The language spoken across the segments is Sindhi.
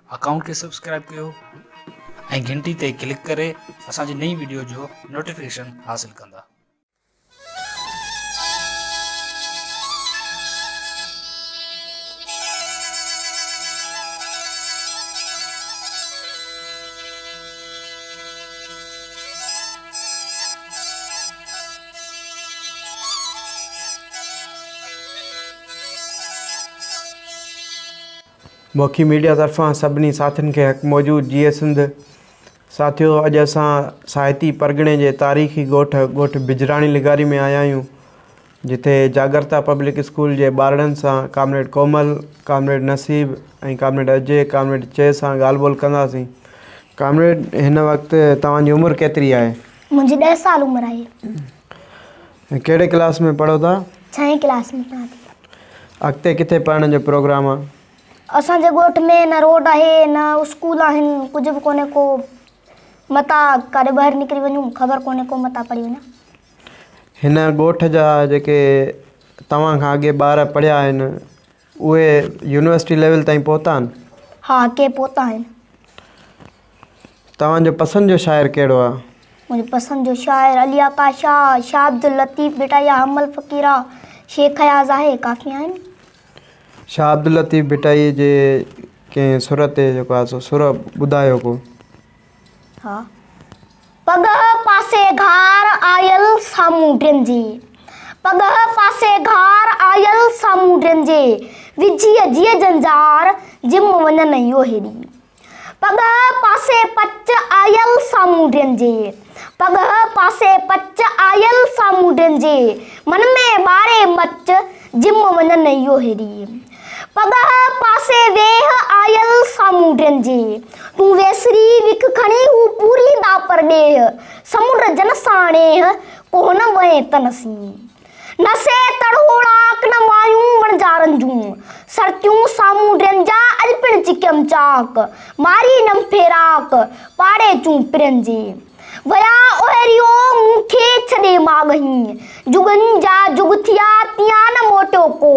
اڪائونٽ کي سبسڪرائب ڪيو ۽ گھنٽي تي ڪلڪ ڪري اسان جي نئين ويڊيو جو نوٽيفڪيشن حاصل ڪندا مکي ميڊيا طرفان سڀني ساٿين کي حق موجود جيئي سنڌ ساٿيو اڄ اسان ساهتي پرڳڻي جي تاريخي ڳوٺ ڳوٺ بجراڻي لغاري ۾ آيا آهيون جتي جاڳرتا پبلڪ اسڪول جي ٻارڙن سان comrade Komal comrade Naseeb ۽ comrade اجي ڪامريڊ چي سان ڳالهه ٻولهه ڪنداسين ڪامريڊ هن وقت توهان جي عمر ڪيتري آهي منهنجي ڏهه سال عمر آهي. ۽ ڪهڙي ڪلاس ۾ پڙهو ٿا؟ ڇهين ڪلاس ۾ پڙهان ٿي. اڳتي ڪٿي پڙهڻ جو پروگرام آ؟ اسان جي ڳوٺ ۾ نه روڊ آهي نه اسڪول آهن ڪجهه به ڪونهي ڪو متان ڪاڏي ٻاهر نڪري وڃون خبر ڪونهي ڪو متان پڙهي وڃان. هن ڳوٺ جا جيڪي توهان کان اڳي ٻار پڙهيا آهن اهي يونيورسٽي ليول تائين پهتا آهن؟ ها ڪي پهتا آهن. توهان جو پسند جو شاعر ڪهڙو آهي؟ منهنجو پسند جو شاعر علي آقا شاهه، شاهه عبداللطيف ڀٽائيء، حمل فقيره، شيخ اياز آهي. ڪافي آهن. شاهه عبداللطيف ڀٽائيء جي ڪنهن سر تي جيڪو آهي سو سر ٻڌايو ڪو. پڳهه پاسي گهار آيل سامونڊين جي پڳهه پاسي گهار آيل سامونڊين جي وجهي جي جنجار جم وڃن اهو هيڏي پڳهه پاسي پچ آيل سامونڊين جي پڳهه پاسي پچ آيل سامونڊين جي من ۾ ٻاري مچ جم وڃن اهو هيڏي. پڳهه پاسي ويهه آيل سامونڊين جي. تون ويسري وک کڻي هو پوري ڏاپر ڏيهه. سمنڊ جن سان نيهه ڪوهه نه وئين تن سين. نه سي تڙهوڙاڪ نه مايون وڻجارن جون. سرتيون سامونڊين جا اڄ پڻ چڪيم چاڪ. ماري نم ڦيراڪ پاڙي چون پرين جي. ويا اوهيريو مون کي ڇڏي ماڳهين. جڳن جا جڳ ٿيا تيان نه موٽيو ڪو.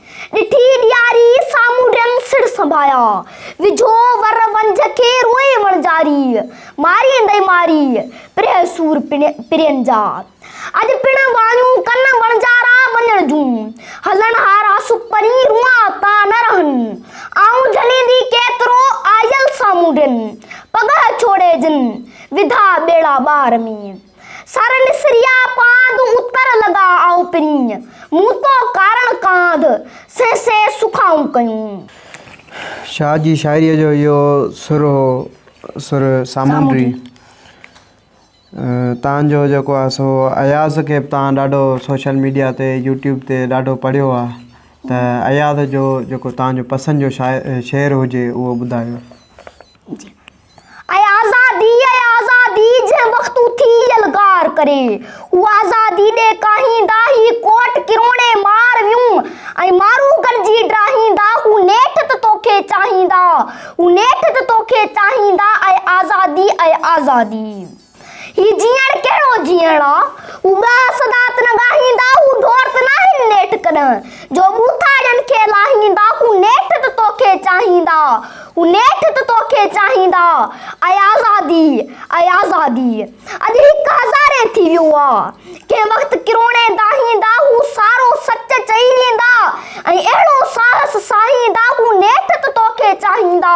ڏٺي ڏياري، سامونڊين سڙ سنڀايا. وجهو ور ونجهه کي، روئي وڻجاري. ماري اندئي ماري، پرهه سور پرين جا. اڄ پڻ وايون ڪن وڻجارا وڃڻ جون. هلڻ هارا سپري، روئان تا نه رهن. آئون جهليندي ڪيترو، آيل سامونڊين. پڳهه ڇوڙي جن، وڌا ٻيڙا ٻاهر ۾. سر نسريا پاند اتر لڳا آئو پرينء، مون تو ڪارڻ ڪانڌ، سين سين سکائون ڪيون. شاهه جي شاعريء جو اهو سر هو سر سامونڊي. تان جو جيڪو آهي سو اياز کي به تان ڏاڍو سوشل ميڊيا تي يوٽيوب تي ڏاڍو پڙهيو آهي ته اياز جو جيڪو تان جو پسند جو شاعر شعر هجي اهو ٻڌايو. اي آزادي، اي آزادي، جنهن وقت اٿي يلغار ڪري، هو آزادي ڏي ڪاهيندا، هي ڪوٽ ڪروڻي مار ويون، ۽ مارو گڏجي ڊاهيندا، هو نيٺ ته توکي چاهيندا، هو نيٺ ته توکي چاهيندا، اي آزادي، اي آزادي. هي جيئڻ ڪهڙو جيئڻ آ؟ هو ڳاهه سدات نه ڳاهيندا، هو ڍور ته ناهن نيٺ ڪڏهن، جو ٻوٿاڙين کي لاهيندا، هو نيٺ ته توکي چاهيندا، هو نيٺ ته توکي چاهيندا، اي آزادي، اي آزادي! اڄ هڪ هزارين ٿي ويو آ، ڪنهن وقت ڪروڙين داهيندا، هو سارو سچ چئي ويندا، ۽ اهڙو ساهس ساهيندا، هو نيٺ ته توکي چاهيندا،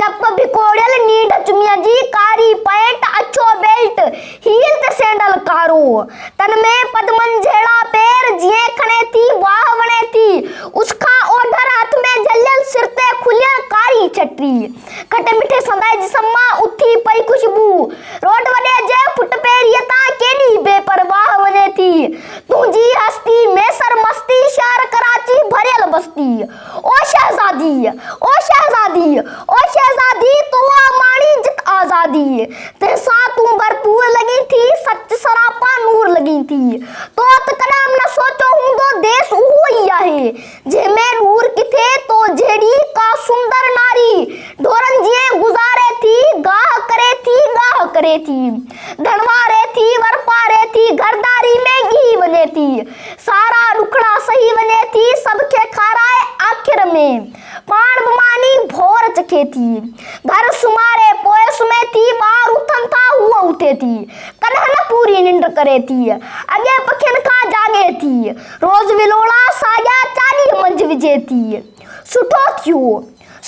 چپ ڀڪوڙيل نينڍ چميء جي ڪاري پئنٽ اڇو بيلٽ هيل ته سينڊل ڪارو تن ۾ پدمن جهڙا پير جيئن کڻي ٿي واهه وڻي ٿي اس کان اوڌر هٿ ۾ جهليل سر تي کليل ڪاري ڇٽي کٽي مٺي سندائي جسم مان اٿي پئي خوشبو روڊ وڏي جي فٽ پيريء تان ڪيڏي بي پرواهه وڃي ٿي تنهنجي هستي ميسر مستي شهر ڪراچي ڀريل بستي او شهزاديء! او شهزاديء! او شهزاديء! تون آ ماڻي جت آزاديء، تنهن سان تون ڀرپور لڳين ٿي، سچ سراپا نور لڳين ٿي. تو ته ڪڏهن به نه سوچيو هوندو، ديس اهو ئي آهي، جنهن ۾ ڏور ڪٿي، تو جهڙي ڪا سندر ناري، ڍورن جيئن گذاري ٿي، گاهه ڪري ٿي، ڳاهه ڪري ٿي، ڌڻواري ٿي، ورپاري ٿي، گهرداري ۾ ڳهي وڃي ٿي. سارا ڏکڙا سهي وڃي ٿي، سڀ کي کارائي آخر ۾ پاڻ به ماني ڀور چکي ٿي. گهر سمهاري پوء سمهي ٿي، ٻار اٿن ٿا هوء اٿي ٿي، ڪڏهن نه پوري ننڊ ڪري ٿي، اڳين پکين کان جاڳي ٿي، روز ولوڙا ساڳيا چاڏيء منجهه وجهي ٿي. سٺو ٿيو.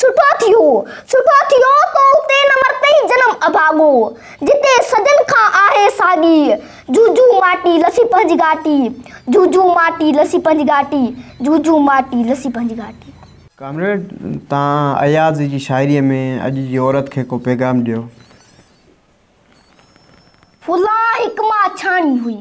سٺو ٿيو، سٺو ٿيو تو اتي نه مرتئي جنم اڀاڳو، جتي صدين کان آهي ساڳي، جوجو ماٽي لسي پنهنجي گهاٽي، جوجو ماٽي لسي پنهنجي گهاٽي، جوجو ماٽي لسي پنهنجي گهاٽي. ڪامريڊ تان اياز جي شاعري ۾ اڄ جي عورت کي ڪو پيغام ڏيو. ڦلان هڪ ماڇاڻي هئي.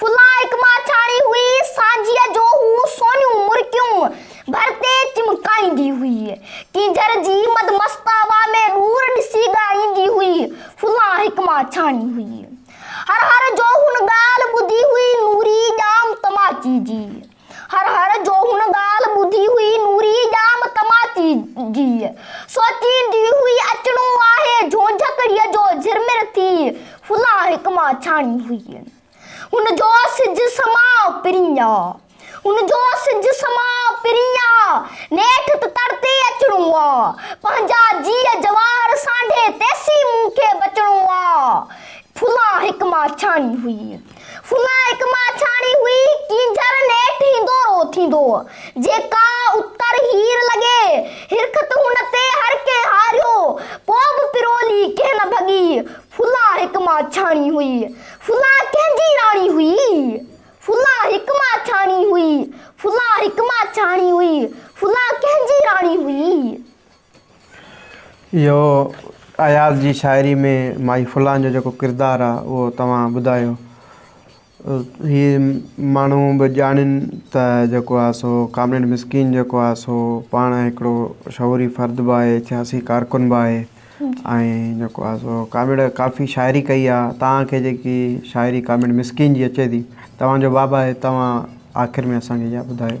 فلاح هڪ ماڇاڻي هئي، سانجهيء جو هو سونيون مرڪيون ڀر تي چمڪائيندي هئي. ڪينجهر جي مد مست هوا ۾ ڏور ڏسي ڳائيندي هئي. فلاح هڪ ماڇاڻي هئي. هر هر جو هن ڳالهه ٻڌي هئي، نوري ڄام تماچي جي. هر هر جو هن ڳالهه ٻڌي هئي، نوريء ڄام تماچي جي. سوچيندي هئي اچڻو آهي، جهونجهڪڙيء جو جھرمر ٿي ڦلا هڪ مان ڇاڻي هئي. هن جو سج سماء پرينء. هن جو سج سماء پرينء. نيٺ ته تڙ تي ئي اچڻو آ. پنهنجا جيء جواهر سانڍي تيسين مون کي بچڻو آ. ڦلا هڪ مان ڇاڻي هئي. فنا هڪ ماڇاڻي هئي، ڪينجهر نيٺ هيندو رو ٿيندو هو، جيڪا اتر هير لڳي، هرخط هن تي هر ڪنهن هاريو، پوء به پرولي ڪنهن نه ڀڳي، فنا هڪ ماڇاڻي هئي، فنا ڪنهن جي راڻي هئي، فنا هڪ ماڇاڻي هئي، فنا هڪ ماڇاڻي هئي، فنا ڪنهن جي راڻي هئي. اهو اياز جي شاعري ۾ مائي فلان جو جيڪو ڪردار آ اهو توهان ٻڌايو. هي ماڻهو به ڄاڻين ته جيڪو آ سو ڪامريڊ مسڪين جيڪو آ سو پاڻ هڪڙو شعوري فرد به آهي سياسي ڪارڪن به آهي ۽ جيڪو آ سو ڪامريڊ ڪافي شاعري ڪئي آ توهان کي جيڪي شاعري ڪامريڊ مسڪين جي اچي ٿي توهان جو باب آهي توهان آخر ۾ اسان کي اها ٻڌايو.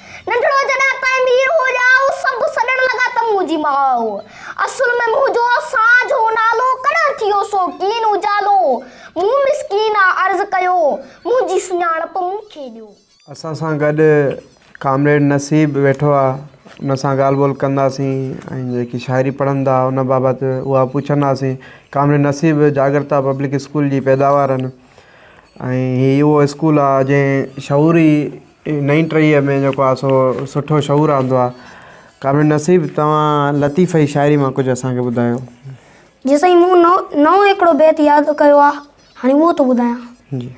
ننڍڙو جڏهن پيمير هو ڄا هو سڀ سڏڻ لڳا ته منهنجي ماء هو. اصل ۾ منهنجو اسان جو نالو ڪڏهن ٿيو سو ڪين اجالو. مون مسڪينه عرض ڪيو منهنجي سڃاڻپ مون کي ڏيو. اسان سان گڏ ڪامريڊ نصيب ويٺو آ ان سان ڳالهه ٻولهه ڪنداسين ۽ جيڪي شاعري پڙهندا ان بابت اها پڇنداسين. Comrade Naseeb Jagrata public school جي پيداوار آهن ۽ هي اهو اسڪول آ جنهن شعوري نئين ٽهيء ۾ جيڪو آهي سو سٺو شعور آندو آهي. ڪامريڊ نصيب توهان لطيفه جي شاعري مان ڪجهه اسان کي ٻڌايو. جي سائين مون نئون هڪڙو بيت ياد ڪيو آ هاڻي اهو ٿو ٻڌايان. جي.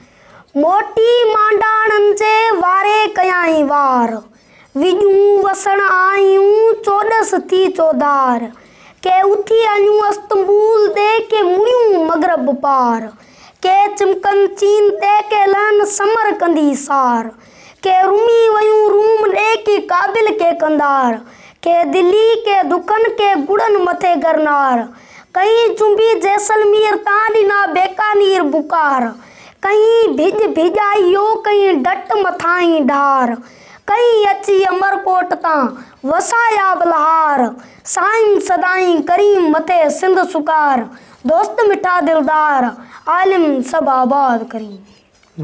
موٽي مانڊاڻن جي واري ڪيائين وار، وڄون وسڻ آيون چوڏس ٿي چوڌار، ڪي اٿي اڃون استنبول ڏي ڪي مڙيون مغرب پار، ڪي چمڪن چين تي ڪي لهن سمر ڪندي سار ڪي رمي ويون روم ڏي ڪي ڪابل ڪي قنڌار ڪي دلي ڪي دڪن ڪي گڙن مٿي گرنار ڪئين چنبي جيسلمير تان ڏنا بيڪانير بخار ڪئين ڀڄ ڀڄائيو ڪئين ڊٽ مٿاهين ڍار ڪئين اچي امرڪوٽ تان وسايا بلهار سائين سدائين ڪريم مٿي سنڌ سگهار دوست مٺا دلدار عالم سڀ آباد ڪرين.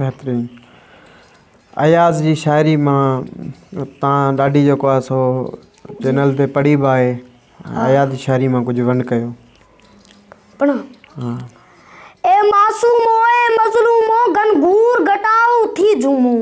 بهترين اياز جي شاعري مان تان ڏاڍي جيڪو آهي سو چينل تي پڙهي به آهي اياز جي شاعري مان ڪجهه ون ڪيو پڙهان ها اي معصومو اي مظلومو گهنگهور گهٽائو ٿي جهومون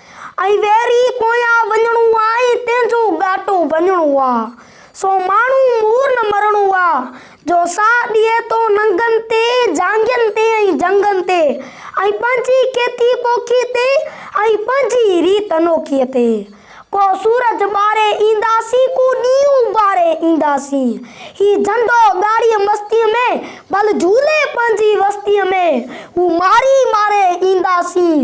۽ ويري پويان وڃڻو آ ۽ تنهن جو ڳاٽو وڃڻو آ سو ماڻهو مور نه مرڻو آ جو ساهه ڏئي ٿو ننگن تي جانگين تي ۽ جنگن تي ۽ پنهنجي کيتي پوکي تي ۽ پنهنجي ريت انوکي تي ڪو سورج ٻاري اينداسين ڪو ڏينهن ٻاري اينداسين هي جهنڊو ڳاڙي مستي ۾ ڀل جهولي پنهنجي وستي ۾ هو ماري ماري اينداسين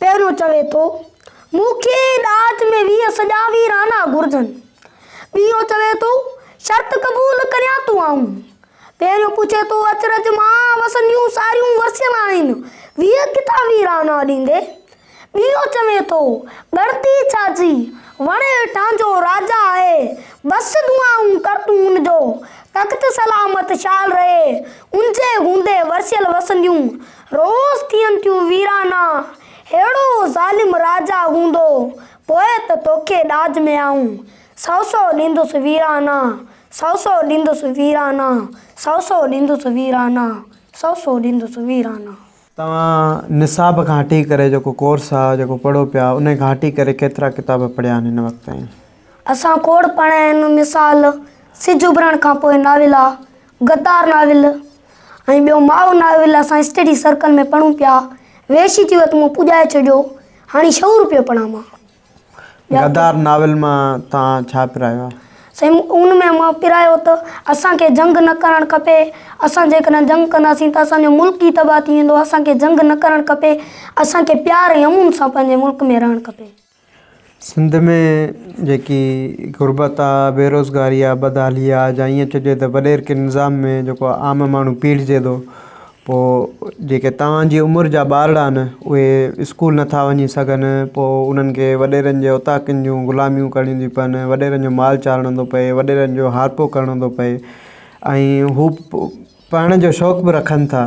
پهريون چوي ٿو، مون کي ڏاج ۾ ويهه سڄا ويرانا گهرجن. ٻيون چوي ٿو، شرط قبول ڪريان تون آئون. پهريون پڇي ٿو، اچرج مان وسنديون ساريون ورسيل آهن، ويهه ڪٿان ويرانا ڏيندي؟ ٻيون چوي ٿو، ڳڻتي ڇا جي، وڻ هيٺان جو راجا آهي، بس دعائون ڪر تون ان جو تخت سلامت شال رهي، ان جي هوندي ورسيل وسنديون روز ٿين ٿيون ويرانا، ههڙو ظالم راجا هوندو، پوء ته توکي ڏاج ۾ آئون، سو سو ڏيندس ويرانا، سو سو ڏيندس ويرانا، سو سو ڏيندس ويرانا، سو سو ڏيندس ويرانا. توهان نصاب کان هٽي ڪري جيڪو ڪورس آ جيڪو پڙهو پيا انهي کان هٽي ڪري ڪيترا ڪتاب پڙهيا آهن هن وقت تائين؟ اسان کوڙ پڙهيا آهن مثال سج اڀرڻ کان پوء ناول آ، غدار ناول ۽ ٻيو ماء ناول اسان اسٽڊي سرڪل ۾ پڙهون پيا ويشي چيو ته مون پڄائي ڇڏيو هاڻي شعور پيو پڙهان مان غدار ناول مان توهان ڇا پرايو آهي؟ سائين ان ۾ مان پرايو ته اسان کي جنگ نه ڪرڻ کپي اسان جيڪڏهن جنگ ڪنداسين ته اسان جو ملڪ ئي تباهه ٿي ويندو اسان کي جنگ نه ڪرڻ کپي اسان کي پيار ۽ امن سان پنهنجي ملڪ ۾ رهڻ کپي. سنڌ ۾ جيڪي غربت آ، بيروزگاري آ، بدحالي آ جا ائين چئجي ته وڏير ڪي نظام ۾ جيڪو عام ماڻهو پيڙهجي ٿو پو جيڪي توهان جي عمر جا ٻارڙا آهن اهي اسڪول نٿا وڃي سگهن پو انهن کي وڏيرن جي اوطاقن جون غلاميون ڪرڻيون ٿي پون وڏيرن جو مال چارڻو ٿو پئي وڏيرن جو هارپو ڪرڻو ٿو پئي ۽ هو پڙهڻ جو شوق به رکن ٿا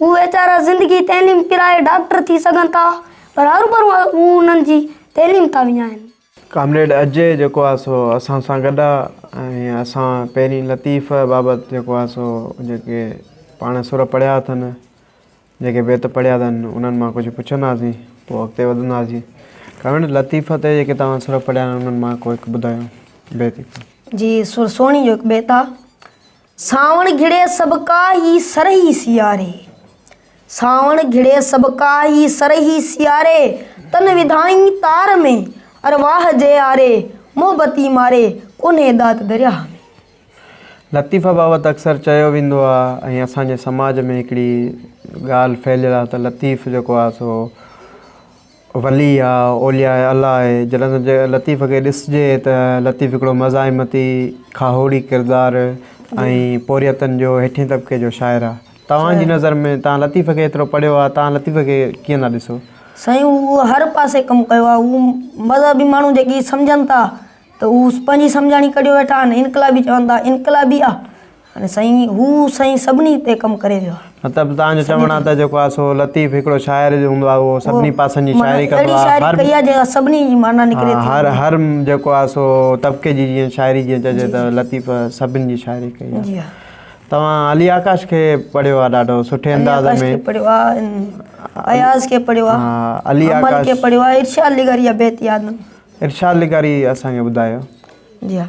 هو ويچارا زندگي تعليم پرائي ڊاڪٽر ٿي سگهن ٿا پر هروڀرو هو انهن جي تعليم ٿا وڃائين. ڪامريڊ اجي جيڪو آهي سو اسان سان گڏ آهي ۽ اسان پهرين لطيف بابت جيڪو آهي سو جيڪي پاڻ سر پڙهيا اٿن جيڪي بيت پڙهيا اٿن انهن مان ڪجهه پڇنداسين پوء اڳتي وڌنداسين ڪامريڊ لطيف تي جيڪي توهان سر پڙهيا آهن انهن مان ڪو هڪ ٻڌايو بيت. جي سر سهڻي جو هڪ بيت آهي. سانوڻ گهڙي سڀ ڪاهي سرهي سياري. سانوڻ گهڙي سڀ ڪاهي سرهي سياري تن وڌائين تار ۾ ارواح جياري محبتي ماري ڪونهي ڏات درياهه ۾. لطيفه بابت اڪثر چيو ويندو آ ۽ اسان جي سماج ۾ هڪڙي ڳالهه ڦهليل آ ته لطيف جيڪو آ سو. ولي يا اولياء الله آهي. جڏهن ته لطيف کي ڏسجي ته لطيف هڪڙو مزاحمتي، کاهوڙي ڪردار ۽ پورهيتن جو هيٺين طبقي جو شاعر آهي. توهان جي نظر ۾ توهان لطيف کي ايترو پڙهيو آهي، توهان لطيف کي ڪيئن ٿا ڏسو؟ سائين هو هر پاسي ڪم ڪيو آهي. هو مذهبي ماڻهو جيڪي سمجهن ٿا ته هو پنهنجي سمجهاڻي ڪڍيو ويٺا آهن، انقلابي چون ٿا انقلابي آهي. هاڻي سائين هو سائين سڀني تي ڪم ڪري ويو آهي. مطلب توهان جو چوڻ آهي ته جيڪو آهي سو لطيف هڪڙو شاعر جو هوندو آهي اهو سڀني پاسن جي شاعري ڪندو آهي. اهڙي شاعري ڪئي آهي جيڪا سڀني جي معنيٰ نڪري ٿي. هر هر جيڪو آهي سو طبقي جي جيئن شاعري جيئن چئجي ته لطيف سڀني جي شاعري ڪئي آهي. جي ها. توهان علي آڪاش کي پڙهيو آهي ڏاڍو سٺي انداز ۾. علي آڪاش کي پڙهيو آهي اياز کي پڙهيو آهي. ها علي آڪاش. امل کي پڙهيو آهي ارشاد لغاري جا بيت ياد آهن. ارشاد لغاري اسان کي ٻڌايو. جي ها.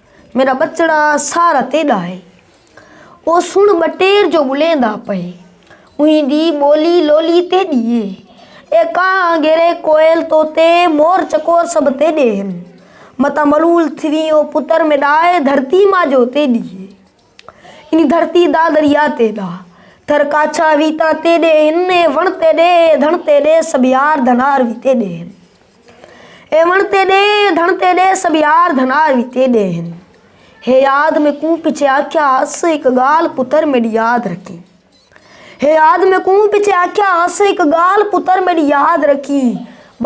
ميرا ٻچڙا سار تي ڏاهي، او سڻ ٻٽير جو ٻليندا پهي، اوهين دي ٻولي لولي تي ڏيهي، اي ڪانء گيري ڪوئل طوطي، مور چڪور سڀ تي ڏيهن، متان ملول ٿيوين او پتر ۾ ڏاهي، ڌرتي ماجو تي ڏيهي. انھي ڌرتي دا دريا تي ڏا، ٿر ڪاڇا وي تان تي ڏي ھن، اي وڻ تي ڏي، اي ڌڻ تي ڏي، سڀ يار ڌنار وي تي ڏي ھن. اي وڻ تي ڏي، اي ڌڻ تي ڏي، سڀ يار ڌنار وي تي ڏي ھن. ھي ياد ۾ ڪون پڇي آکيا ھئس، ھڪ ڳالھ پتر ميڏي ياد رکين. ھي ياد ۾ ڪون پڇي آکيا ھئس، ھڪ ڳالھ پتر ميڏي ياد رکين.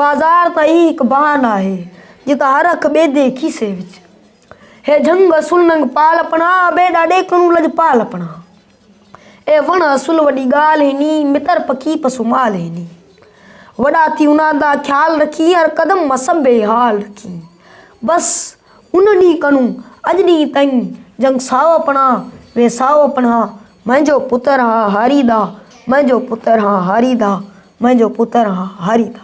بازار تان ھي ھڪ بھانه آھي، جتان ھر اک ٻيدي کيسي وچ. اي جهنگ اصل ننگ پال پڻا، ٻي ڏاڏي ڪنون لڄپال پڻا. اي وڻ اصل وڏي ڳالهه هيني، متر پکي پسو مال هيني. وڏا ٿي انهان دا خيال رکين، هر قدم مسب بي حال رکين. بس ان ڏينهن ڪنون اڄ ڏينهن تائين، جهنگ ساهو پڻا، وي ساهو پڻا. منهنجو پتر هان هاري دا، منهنجو پتر هان هاري دا، منهنجو پتر هان هاري دا.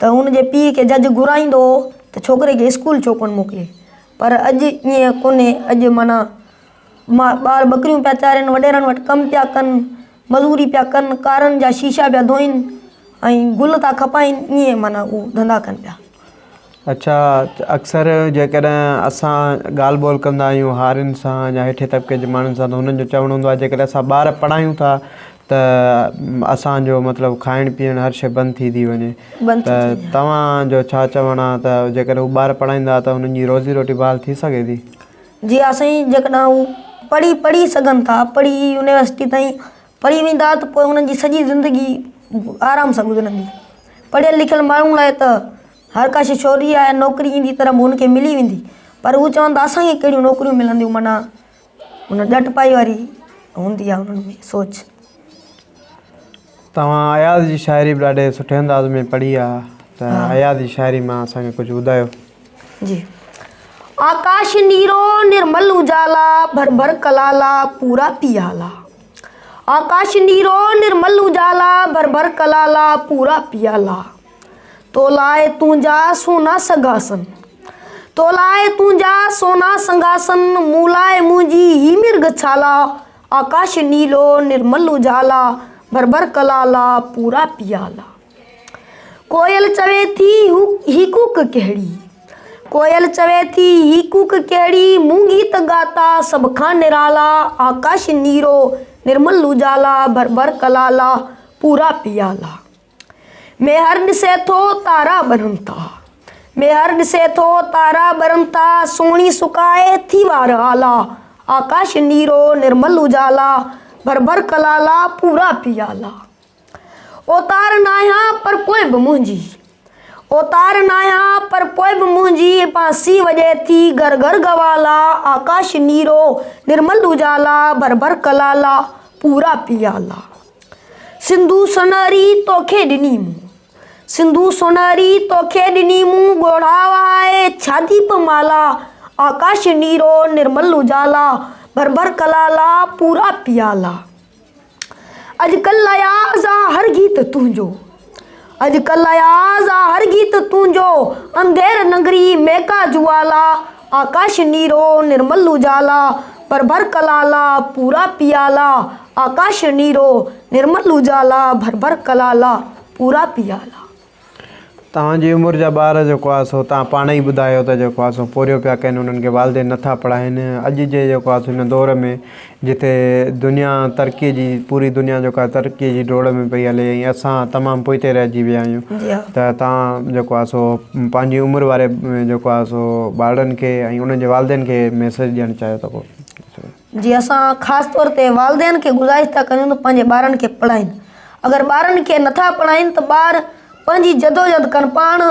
ته هن جي پيء کي جج گهرائيندو هو ته ڇوڪري کي اسڪول ڇو ڪونه موڪلي پر اڄ ائين ڪونهي اڄ معنيٰ ٻار ٻڪريون پيا چارين وڏيرن وٽ ڪم پيا ڪن مزوري پيا ڪن ڪارن جا شيشا پيا ڌوئين ۽ گل ٿا کپائين ائين معنيٰ هو ڌندا ڪن پيا اڇا اڪثر جيڪڏهن اسان ڳالهه ٻولهه ڪندا آهيون هارين سان يا هيٺين طبقي جي ماڻهن سان ته هنن جو چوڻ هوندو آهي جيڪڏهن اسان ٻار پڙهايون ٿا ته اسان جو مطلب کائڻ پيئڻ هر شيء بند ٿي ٿي وڃي ته توهان جو ڇا چوڻ آهي ته جيڪڏهن هو ٻار پڙهائيندا ته هنن جي روزي روٽي بحال ٿي سگهي ٿي؟ جي ها سائين جيڪڏهن هو پڙهي پڙهي سگهن ٿا پڙهي يونيورسٽي تائين پڙهي ويندا ته پوء هنن جي سڄي زندگي آرام سان گذرندي پڙهيل لکيل ماڻهن لاء ته هر ڪا شيء شوري آهي نوڪري جي طرح هن کي ملي ويندي پر هو چون ٿا اسان کي ڪهڙيون نوڪريون ملنديون معنيٰ ان ڏٽپائي واري هوندي آهي انهن ۾ سوچ. توهان اياز جي شاعري به ڏاڍي سٺي انداز ۾ پڙهي آ ته اياز جي شاعري مان اسان کي ڪجهه ٻڌايو. جي آڪاش نيرو نرمل اجالا ڀر ڀر ڪلالا پورا پيالا آڪاش نيرو نرمل اجالا ڀر ڀر ڪلالا پورا پيالا. تو لاء تنهنجا سونا سنگهاسن تو لاء تنهنجا سونا سنگهاسن مون لاء منهنجي هي مرگ ڇالا آڪاش نيلو نرمل اجالا ڀرڀر ڪلالا پورا پيالا ڪوئل چوي ٿي هي ڪوڪ ڪهڙي ڪوئل چوي ٿي هي ڪوڪ ڪهڙي مون گيت ڳاتا سڀ کان نرالا آڪاش نيرو نرمل اجالا ڀرڀر ڪلالا پورا پيالا ميهر ڏسي ٿو تارا ٻرن ٿا ميهر ڏسي ٿو تارا ٻرن ٿا سهڻي سڪائي ٿي وار آلا آڪاش نيرو نرمل اجالا ڀر ڀر ڪلالا پورا پيالا اوتار ناهيان پر پوء به منهنجي اوتار ناهيان پر پوء به منهنجي بانسي وڄي ٿي گھر گھر گوالا آڪاش نيرو نرمل اجالا ڀر ڀر ڪلالا پورا پيالا سنڌو سونهري توکي ڏني مون سنڌو سونهري توکي ڏني مون ڳوڙها وهائي ڇاجي به مالا آڪاش نيرو نرمل اجالا ڀر ڀر ڪلالا پورا پيالا اڄڪلهه اياز آ هر گيت تنهنجو اڄ ڪل اياز آ هر گيت تنهنجو، انڌير ننگري ميڪا جوالا، آڪاش نيرو نرمل اجالا، ڀر ڀر ڪلالا پورا پيالا، آڪاش نيرو نرمل اجالا، ڀر ڀر ڪلالا پورا پيالا. توهان جي عمر جا ٻار جيڪو آهي سو توهان پاڻ ئي ٻڌايو ته جيڪو آهي سو پورهيو پيا ڪن انهن کي والدين نٿا پڙهائين اڄ جي جيڪو آهي سو هن دور ۾ جتي دنيا ترقي جي پوري دنيا جيڪو آهي ترقي جي ڊوڙ ۾ پئي هلي ۽ اسان تمام پوئتي رهجي ويا آهيون ته تان جيڪو آهي سو پنهنجي عمر واري جيڪو آهي سو ٻارڙن کي ۽ انهن جي والدين کي ميسيج ڏيڻ چاهيو ٿا پوء جي اسان خاص طور تي والدين کي گذارش ٿا ڪريون ته پنهنجي ٻارن کي پڙهائين اگر ٻارن کي نٿا پڙهائين ته ٻار پنهنجي جدوجد ڪن پاڻ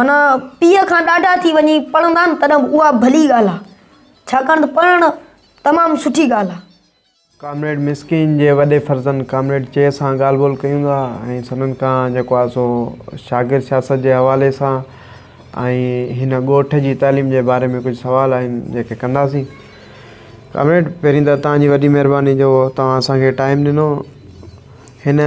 منا پيء کان ڏاڍا ٿي وڃي پڙهندا تڏهن اها ڀلي ڳالهه آهي ڇاڪاڻ ته پڙهڻ تمام سٺي ڳالهه آهي. ڪامريڊ مسڪين جي وڏي فرزند ڪامريڊ چيء سان ڳالهه ٻولهه ڪيون ٿا ۽ سندن ڪان جيڪو آهي سو شاگرد سياست جي حوالي سان ۽ هن ڳوٺ جي تعليم جي باري ۾ ڪجهه سوال آهن جيڪي ڪنداسين. ڪامريڊ پهرين ته توهان جي وڏي مهرباني جو توهان اسان کي ٽائيم ڏنو هن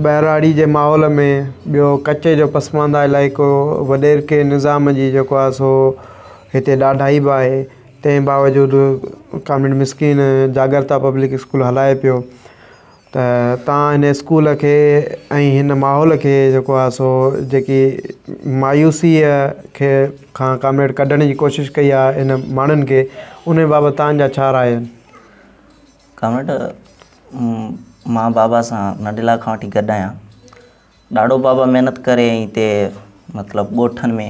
ٻهراڙي جي ماحول ۾ ٻيو ڪچي جو پسمانده علائقو وڏيرڪي نظام جي جيڪو آهي سو هتي ڏاڍائي به آهي، تنهن باوجود ڪامريڊ مسڪين جاڳرتا پبلڪ اسڪول هلائي پيو ته تان هن اسڪول کي ۽ هن ماحول کي جيڪو آهي سو جيڪي مايوسيء کي کان ڪامريڊ ڪڍڻ جي ڪوشش ڪئي آهي هن ماڻهن کي ان بابت تان جا ڇا راء آهن؟ ڪامريڊ مان بابا سان ننڍيلا کان وٺي گڏ آهيان ڏاڍو بابا محنت ڪري هتي مطلب ڳوٺن ۾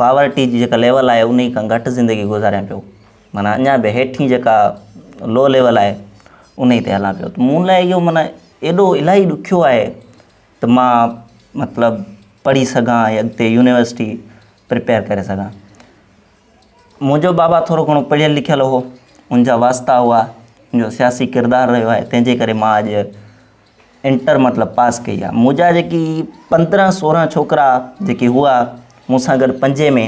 پاورٽي جي جيڪا ليول آهي انهي کان گهٽ زندگي گذاريان پيو معنيٰ اڃا به هيٺين جيڪا لو ليول آهي انهي تي هلان پيو مون لاء اهو معنيٰ ايڏو الاهي ڏکيو آهي ته مان مطلب پڙهي سگهان ۽ اڳتي يونيورسٽي پريپيئر ڪري سگهان منهنجو بابا ٿورو گهڻو پڙهيل لکيل هو ان جا واسطا هئا ان جو سياسي ڪردار رهيو آهي تنهنجي ڪري مان اڄ انٽر مطلب پاس ڪئي آ مون جا جيڪي پندرهن سورهن ڇوڪرا جيڪي هئا مون سان گڏ پنجين ۾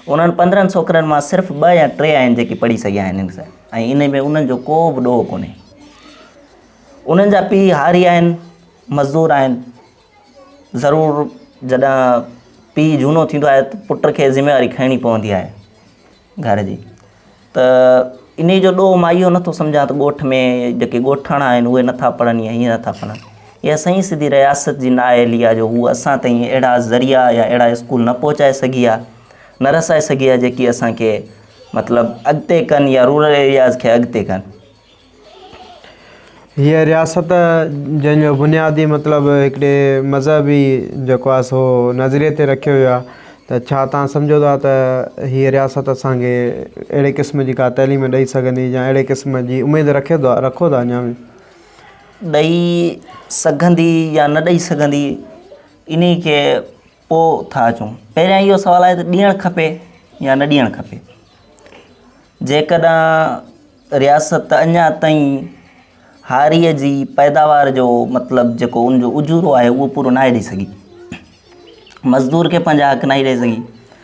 انهن پندرهن ڇوڪرن مان صرف ٻه يا ٽي آهن جيڪي پڙهي سگهيا آهن ان سان ۽ ان ۾ انهن جو ڪو به ڏوهه ڪونهي انهن جا پيء هاري آهن مزدور آهن ضرور جڏهن پيء جهونو ٿيندو آهي ته پٽ کي ذميواري کڻڻي پوندي آهي گهر جي ته انهي جو ڏوهه مان اهو نٿو سمجهان ته ڳوٺ ۾ جيڪي ڳوٺاڻا آهن اهي نٿا پڙهن يا هيئن نٿا پڙهن اها سائين سڌي رياست جي نااهلي آهي جو هو اسان تائين اهڙا ذريعا يا اهڙا اسڪول نه پهچائي سگهي آهي نه رسائي سگهي آهي جيڪي اسانکي مطلب اڳتي ڪن يا رورل ايرياز کي اڳتي ڪن هيء رياست جنهن جو بنيادي مطلب هڪڙي مذهبي جيڪو آهي سو نظريي تي رکيو ويو آهي ته ڇا توهان سمجهو ٿا ته هيء رياست اسان کي اهڙي قسم جي ڪا تعليم ڏئي سگهندي يا اهڙي قسم جي اميد رکيو ٿا رکو ٿا اڃا به ڏئي سگهندي يا نه ڏئي سگهندي انهيء کي پوء ٿا اچون. پهريان اهو سوال آهي ته ڏيڻ کپي يا نه ڏيڻ کپي؟ جيڪڏهن رياست اڃا تائين هاريء جي پيداوار جو مطلب جيڪو ان جو اجورو آهي اهو پورو ناهي ڏئي سگهي، مزدور کي پنهنجا حق ناهي ڏئي سگهي،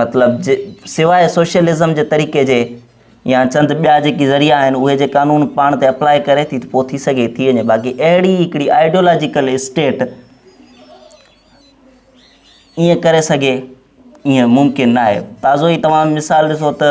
مطلب سواء سوشلزم جي طريقي جي يا چند ٻيا جيڪي ذريعا آهن اهي جي قانون پاڻ تي اپلاء ڪري ٿي ته پوء ٿي سگهي ٿي وڃي باقي اهڙي هڪڙي آئيڊيولاجيڪل اسٽيٽ ائين ڪري سگهي ائين ممڪن نه آهي تازو ئي توهان مثال ڏسو ته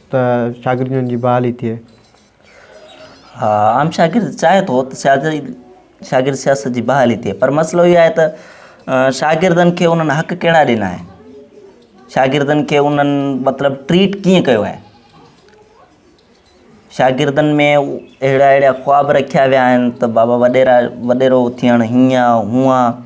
ته شاگردن جي بحالي ٿئي. عام شاگرد چاهي ٿو ته شاگرد سياست جي بحالي ٿئي پر مسئلو اهو آهي ته شاگردن کي انهن حق ڪهڙا ڏنا آهن شاگردن کي انهن مطلب ٽريٽ ڪيئن ڪيو آهي شاگردن ۾ اهڙا اهڙا خواب رکيا ويا آهن ته بابا وڏيرا وڏيرو ٿيڻ هيئن هونئن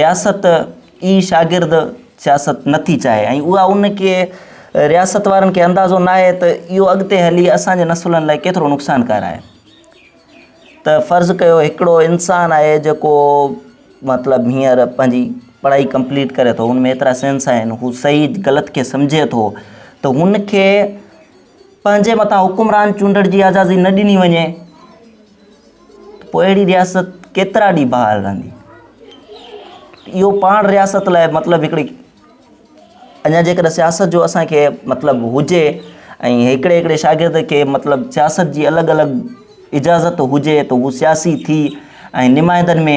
رياست ئي شاگرد سياست نه ٿي چاهي ۽ اها ان کي رياست وارن کي اندازو ناهي ته اهو اڳتي هلي اسان جي نسلن لاء ڪيترو نقصانڪار آهي ته فرض ڪيو هڪڙو انسان آهي جيڪو مطلب هينئر پنهنجي پڙهائي ڪمپليٽ ڪري ٿو ان ۾ ايترا سينس آهن هو صحيح غلط کي سمجهي ٿو ته هن کي پنهنجي مٿان حڪمران چونڊڻ جي آزادي نه ڏني وڃي ته پوء اهڙي رياست ڪيترا ڏينهن بحال رهندي اهو پاڻ رياست لاء مطلب هڪڙي اڃا جيڪڏهن سياست جو اسانکي مطلب هجي ۽ هڪڙي هڪڙي شاگرد کي مطلب سياست جي الڳ الڳ اجازت هجي ته هو سياسي ٿي ۽ نمائندن ۾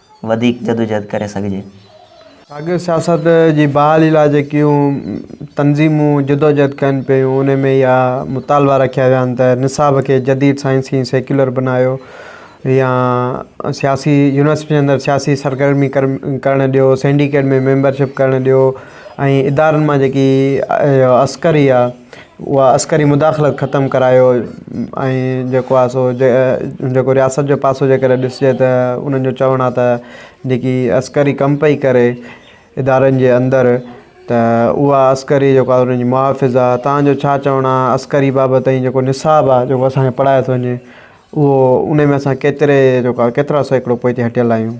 وڌيڪ جدوجهد ڪري سگهجي. ساڳيو سياست جي بحالي لاء جيڪيون تنظيمون جدوجهد ڪن پيون ان ۾ اها مطالبا رکيا ويا آهن ته نصاب کي جديد سائنسي ۽ سيڪيولر بنايو يا سياسي يونيورسٽين اندر سياسي سرگرمي ڪرڻ ڏيو سينڊيڪيٽ ۾ ميمبرشپ ڪرڻ ڏيو ۽ ادارن مان جيڪي عسڪري يا اها عسڪري مداخلت ختم ڪرايو ۽ جيڪو آهي سو جيڪو رياست جو پاسو جيڪڏهن ڏسجي ته انهن جو چوڻ آهي ته جيڪي عسڪري ڪم پئي ڪري ادارن جي اندر ته اها عسڪري جيڪو آهي ان جي محافظ آهي تان جو ڇا چوڻ آهي عسڪري بابت ۽ جيڪو نصاب آهي جيڪو اسان کي پڙهايو ٿو وڃي اهو ان ۾ اسان ڪيتري جيڪو آهي ڪيترا سيڪڙو پوئتي هٽيل آهيون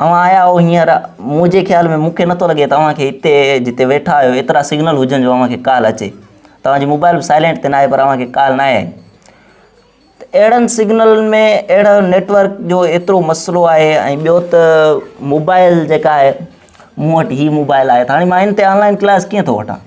اوهان آيا آهو هينئر، منهنجي خيال ۾ مون کي نٿو لڳي توهان کي هتي جتي ويٺا آهيو ايترا سگنل هجن جو اوهان کي ڪال اچي. توهان جي موبائل به سائلينٽ تي ناهي پر اوهان کي ڪال ناهي آئي. ته اهڙن سگنلن ۾ اهڙو نيٽورڪ جو ايترو مسئلو آهي ۽ ٻيو ته موبائل جيڪا آهي مون وٽ هي موبائل آهي ته هاڻي مان هن تي آنلائن ڪلاس ڪيئن ٿو وٺان؟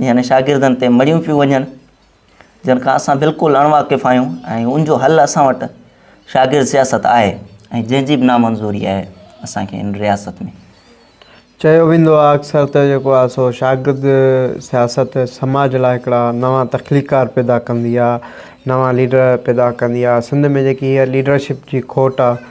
يعني شاگردن تي مڙهيون پيون وڃن جن کان اسان بلڪل اڻ واقف آهيون ۽ ان جو حل اسان وٽ شاگرد سياست آهي ۽ جنهن جي به نا منظوري آهي اسان کي ان رياست ۾ چيو ويندو آهي اڪثر ته جيڪو آهي سو شاگرد سياست سماج لاء هڪڙا نوان تخليقار پيدا ڪندي آهي نوان ليڊر پيدا ڪندي آهي سنڌ ۾ جيڪي هيء ليڊرشپ جي کوٽ آهي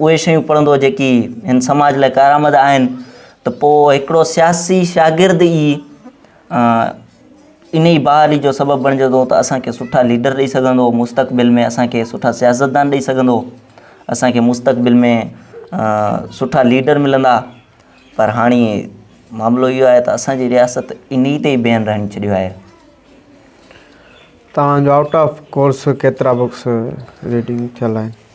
اهي شيون پڙهندو جيڪي هن سماج لاء ڪارآمد آهن ته پوء هڪڙو سياسي شاگرد ئي ان ئي بحالي جو سبب بڻجي ٿو ته اسان کي سٺا ليڊر ڏئي سگهندو مستقبل ۾ اسان کي سٺا سياستدان ڏئي سگهندو اسان کي مستقبل ۾ سٺا ليڊر ملندا پر هاڻي معاملو اهو آهي ته اسانجي رياست ان ئي تي بيهن رهن ڇڏيو آهي توهان جو آئوٽ آف ڪورس ڪيترا بڪس ريڊنگ ٿيل آهن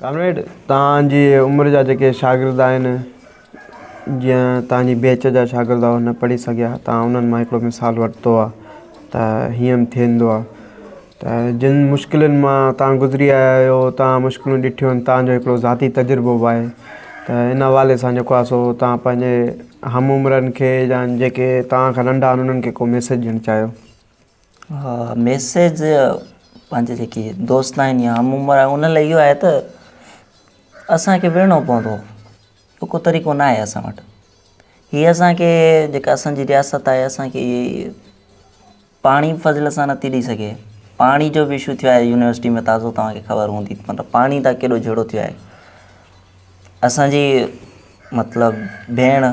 ڪامريڊ توهان جي عمر جا جيڪي شاگرد آهن جيئن توهان جي بيچ جا شاگرد هئا نه پڙهي سگهيا توهان انهن مان هڪڙو مثال ورتو آهي ته هيئن به ٿيندو آهي ته جن مشڪلن مان توهان گذري آيا آهيو توهان مشڪلون ڏٺيون آهن توهان جو هڪڙو ذاتي تجربو به آهي ته ان حوالي سان جيڪو آهي سو توهان پنهنجي هم عمرن کي يا جيڪي توهان کان ننڍا آهن انهن کي ڪو ميسيج ڏيڻ چاهيو ميسيج پنهنجي جيڪي دوست آهن يا هم عمر آهن ان لاء اهو آهي ته اسانکي وڙهڻو پوندو ٻيو ڪو طريقو نه آهي اسان وٽ هي اسانکي جيڪا اسانجي رياست آهي اسانکي پاڻي فضل سان نٿي ڏئي سگهي پاڻي جو به اشو ٿيو آهي يونيورسٽي ۾ تازو توهانکي خبر هوندي مطلب پاڻي تان ڪيڏو جهيڙو ٿيو آهي اسانجي مطلب ڀيڻ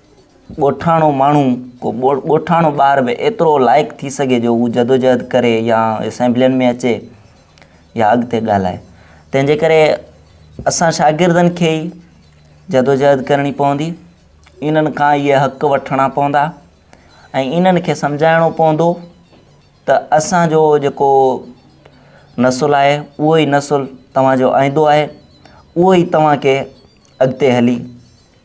ڳوٺاڻو ماڻهو، ڪو ڳوٺاڻو ٻار به ايترو لائق ٿي سگهي جو هو جدوجهد ڪري يا اسيمبلين ۾ اچي يا اڳتي ڳالهائي. تنهن جي ڪري اسان شاگردن کي ئي جدوجهد ڪرڻي پوندي، انهن کان ئي اهي حق وٺڻا پوندا ۽ انهن کي سمجهائڻو پوندو ته اسان جو جيڪو نسل آهي اهو ئي نسل توهان جو آئيندو آهي، اهو ئي توهان کي اڳتي هلي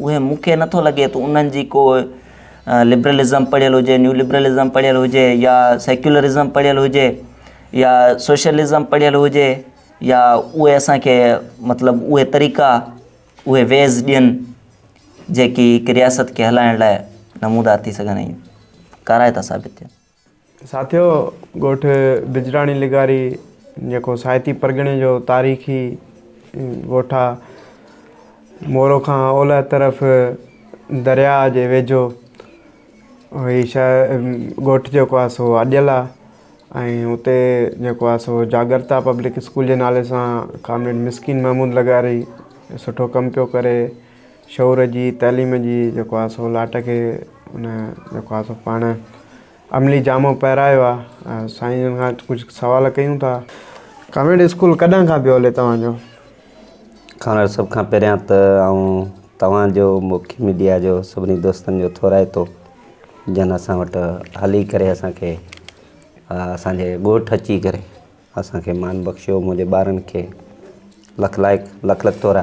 اهي مون کي نٿو لڳي ته انهن جي ڪو لبرلزم پڙهيل هجي، نيو لبرلزم پڙهيل هجي يا سيڪيولرزم پڙهيل هجي يا سوشلزم پڙهيل هجي يا اهي اسان کي مطلب اهي طريقا اهي ويز ڏين جيڪي هڪ رياست کي هلائڻ لاء نمودار ٿي سگهن ۽ ڪارائتا ثابت ٿين. ساٿيو، ڳوٺ بجراڻي لغاري جيڪو سائتي پرڳڻي جو تاريخي ڳوٺ آ، مورو کان اولهه طرف درياء جي ويجهو هي شهر ڳوٺ جيڪو آ سو اڏيل آ ۽ اتي جيڪو آ سو جاڳرتا پبلڪ اسڪول جي نالي سان ڪامريڊ مسڪين محمود لغاري سٺو ڪم پيو ڪري شعور جي تعليم جي جيڪو آهي سو لاٽ کي ان جيڪو آهي سو پاڻ عملي جامو پهرايو آهي سائين جن کان ڪجهه سوال ڪيون ٿا ڪانوينٽ اسڪول ڪڏهن کان پيو هلي توهان جو خانر سڀ کان پهريان ته آئون توهان جو موکي ميڊيا جو سڀني دوستن جو ٿورائتو جن اسان وٽ هلي ڪري اسان کي اسان جي ڳوٺ اچي ڪري اسان کي مان بخشيو منهنجي ٻارن کي لک لائق لک لک ٿورا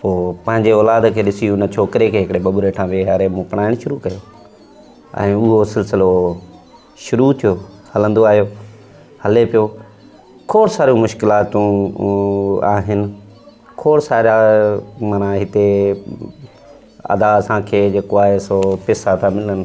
پوء پنهنجي اولاد کي ڏسي ان ڇوڪري کي هڪڙي ٻٻر هيٺان ويهاري مون پڙهائڻ شروع ڪيو ۽ اهو سلسلو شروع ٿيو هلندو آيو هلي پيو کوڙ ساريون مشڪلاتون آهن کوڙ سارا مانا هتي ادا اسان کي جيڪو آهي سو پيسا ٿا ملن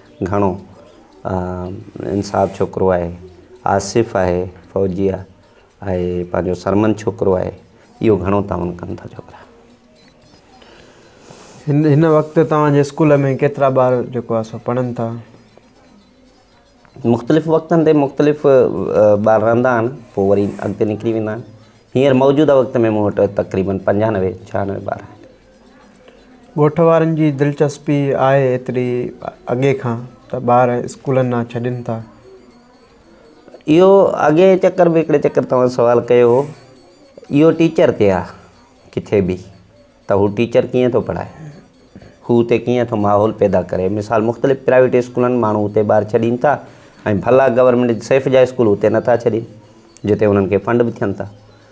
گهڻو انصاف ڇوڪرو آهي آصف آهي فوجي آهي آهي پنهنجو سرمن ڇوڪرو آهي اهو گهڻو تعاون ڪن ٿا ڇوڪرا هن هن وقت توهان جي اسڪول ۾ ڪيترا ٻار جيڪو آسو پڙهن ٿا مختلف وقتن تي مختلف ٻار رهندا آهن پوء وري اڳتي نڪري ويندا آهن هينئر موجوده وقت ۾ مون وٽ تقريبن پنجانوي ڇهانوي ٻار آهن ڳوٺ وارن جي دلچسپي آهي ايتري اڳي کان ته ٻار اسڪولن ڏانهن ڇڏين ٿا. اهو اڳئين چڪر به هڪڙي چڪر توهان سوال ڪيو هو اهو ٽيچر تي آ ڪٿي به ته هو ٽيچر ڪيئن ٿو پڙهائي هو اتي ڪيئن ٿو ماحول پيدا ڪري مثال مختلف پرائيويٽ اسڪولن ماڻهو اتي ٻار ڇڏين ٿا ۽ ڀلا گورنمينٽ سيف جا اسڪول اتي نٿا ڇڏين جتي انهن کي فنڊ به ٿين ٿا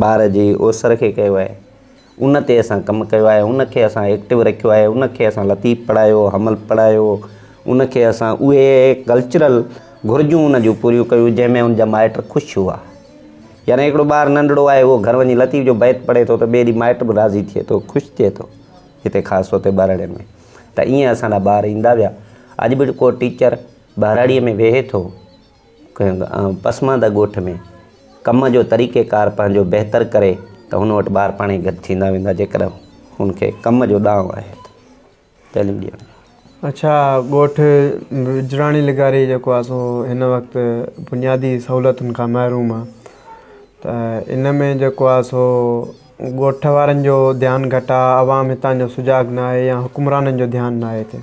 ٻار جي اوسر کي ڪيو آهي ان تي اسان ڪم ڪيو آهي ان کي اسان ايڪٽو رکيو آهي ان کي اسان لطيف پڙهايو حمل پڙهايو ان کي اسان اهي ڪلچرل گهرجون ان جون پوريون ڪيون جنهن ۾ ان جا مائٽ خوش هئا يعني هڪڙو ٻار ننڍڙو آهي اهو گهر وڃي لطيف جو بيت پڙهي ٿو ته ٻئي ڏينهن مائٽ به راضي ٿئي ٿو خوش ٿئي ٿو هتي خاص طور تي ٻهراڙين ۾ ته ائين اسان جا ٻار ايندا ويا اڄ به ڪو ٽيچر ٻهراڙيء ۾ ويهي ٿو ڪنهن پسمانده ڳوٺ ۾ ڪم جو طريقي ڪار پنهنجو بهتر ڪري ته هن وٽ ٻار پاڻهي گڏ ٿيندا ويندا جيڪڏهن هن کي ڪم جو ڏانء آهي ته تعليم ڏيڻ جو اڇا ڳوٺ وجراڻي لغاري جيڪو آهي سو هن وقت بنيادي سهولتن کان محروم آهي ته ان ۾ جيڪو آهي سو ڳوٺ وارن جو ڌيان گهٽ آهي عوام هتان جو سجاڳ ناهي يا حڪمرانن جو ڌيان ناهي هتي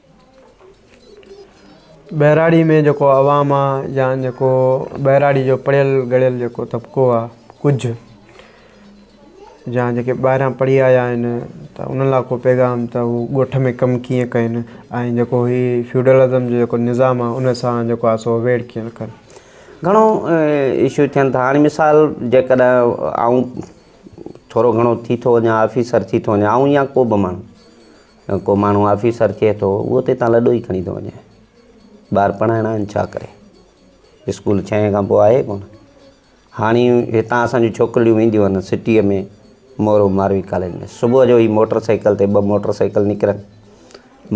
ٻهراڙي ۾ جيڪو عوام آ يا جيڪو ٻهراڙي جو پڙهيل ڳڙهيل جيڪو طبقو آ ڪجهه يا جيڪي ٻاهران پڙهي آيا آهن ته انهن لاء ڪو پيغام ته هو ڳوٺ ۾ ڪم ڪيئن ڪن ۽ جيڪو هي فيوڊلزم جو جيڪو نظام آ ان سان جيڪو آ سو اويڙ ڪيئن ڪن گهڻو اشو ٿين ٿا هاڻي مثال جيڪڏهن آئون ٿورو گهڻو ٿي ٿو وڃان آفيسر ٿي ٿو وڃان آئون يا ڪو به ماڻهو ڪو ماڻهو آفيسر ٿئي ٿو اهو ته هتان لڏو ئي کڻي ٿو وڃي ٻار پڙهائڻا آهن ڇا ڪري اسڪول ڇهين کان پوء آهي ڪونه هاڻي هتان اسانجو ڇوڪرڙيون وينديون آهن سٽيء ۾ مورو ماروي ڪاليج ۾ صبح جو هي موٽر سائيڪل تي ٻه موٽر سائيڪل نڪرن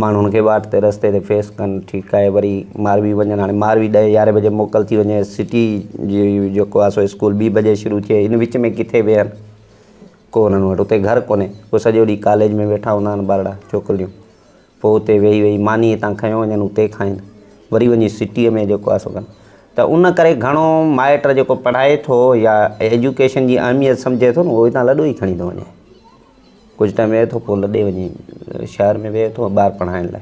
ماڻهن کي واٽ تي رستي تي فيس ڪن ٺيڪ آهي وري ماروي وڃن هاڻي ماروي ڏهه يارهين بجي موڪل ٿي وڃي سٽي جي جيڪو آهي سو اسڪول ٻي بجي شروع ٿئي هن وچ ۾ ڪٿي ويهن ڪو انهن وٽ اتي گهر ڪونهي. پوء سڄو ڏينهن ڪاليج ۾ ويٺا هوندا آهن ٻارڙا، ڇوڪريون. پوء اتي ويهي ويهي ماني هتان کنيو وڃن اتي کائين. وري وڃي سٽيء ۾ جيڪو آهي سو ڪن. ته ان ڪري گهڻو مائٽ جيڪو پڙهائي ٿو يا ايجوڪيشن جي اهميت سمجهي ٿو نه اهو هتان لڏو ئي کڻي ٿو وڃي. ڪجهه ٽائيم ويهي ٿو پوء لڏي وڃي شهر ۾ ويهي ٿو ٻار پڙهائڻ لاء.